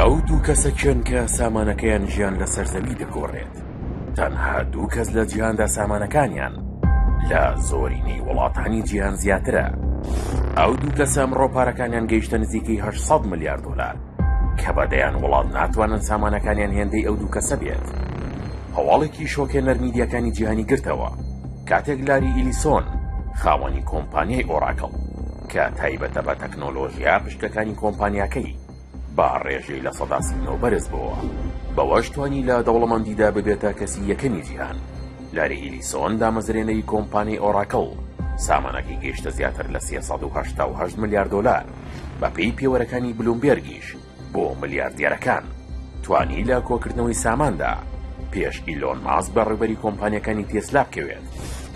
ئەو دوو کەسە کێن کە سامانەکەیان ژیان لەسەر زەوی دەگۆڕێت تەنها دوو کەس لە جیهاندا سامانەکانیان لە زۆرینەی وڵاتانی جیهان زیاترە ئەو دوو کەسە ئەمڕۆ پارەکانیان گەیشتە نزیکەی 800 ملیار دلار کە بەدەیان وڵات ناتوانن سامانەکانیان هێندەی ئەو دوو کەسە بێت هەواڵێکی شۆکێ نەرمیدیەکانی جیهانی گرتەوە کاتێک لاری ئیلیسۆن خاوەنی کۆمپانیای ئۆراکڵ کە تایبەتە بە تەکنۆلۆژیا پشکەکانی کۆمپانیاکەی، بە ڕێژەی لە سەدا سی و نۆ بەرزبۆوە، بەوەش توانی لە دەوڵەمەندیدا ببێتە کەسی یەکەمی جیهان. لاری ئیلیسۆن، دامەزرێنەری کۆمپانیای ئۆراکڵ، سامانەکەی گەیشتە زیاتر لە سێ سەد و هەشتا و هەشت ملیار دۆلار، بەپێی پێوەرەکانی بلومبێرگیش، بۆ ملیاردێرەکان توانی لە کۆکردنەوەی ساماندا پێش ئیلۆن ماسک بە ڕێبەری کۆمپانیەکانی تێسلا بکەوێت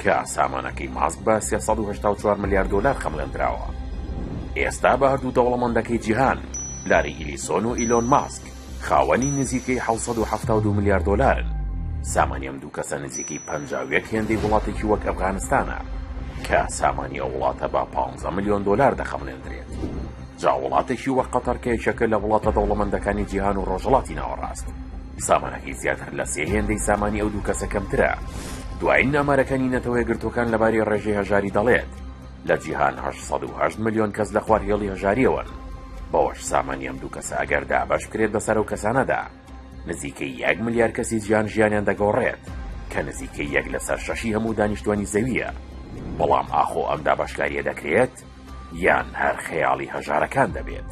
کە سامانەکەی ماسک بە 384 ملیار دۆلار خەمڵێندراوە ئێستا بە هەردوو دەوڵەمەندەکەی جیهان لاری ئیلیسۆن و ئیلۆن ماسک خاوەنی نزیکەی 1970 ملیار دۆلارن سامانی ئەم دوو کەسە نزیکەی پەنجاوێک هێندەی وڵاتێکی وەک ئەفغانستانە کە سامانی ئەو وڵاتە بە 15 ملیۆن دۆلار دەخەملێندرێت. جا وڵاتێکی وەک قەتەر کە یەکێکە لە وڵاتە دەوڵەمەندەکانی جیهان و ڕۆژهەڵاتی ناوەڕاست سامانەکەی زیاتر لە سێ هێندەی سامانی ئەو دوو کەسە کەمترە. دوایین ئامارەکانی نەتەوە یەکگرتووەکان لەبارەی ڕێژەی هەژاری دەڵێت، لە جیهان هەشت سەد و هەشت ملیۆن کەس لە خوار هێڵی هەژارییەوەن، بەوەش سامانی ئەم دوو کەسە ئەگەر دابەش بکرێت بەسەر ئەو کەسانەدا، نزیکەی یەک ملیار کەسی جیهان ژیانیان دەگۆڕێت، کە نزیکەی یەک لەسەر شەشی هەموو دانیشتووانی زەوییە. بەڵام ئاخۆ ئەم دابەشکارییە دەکرێت؟ یان هەر خەیاڵی هەژارەکان دەبێت؟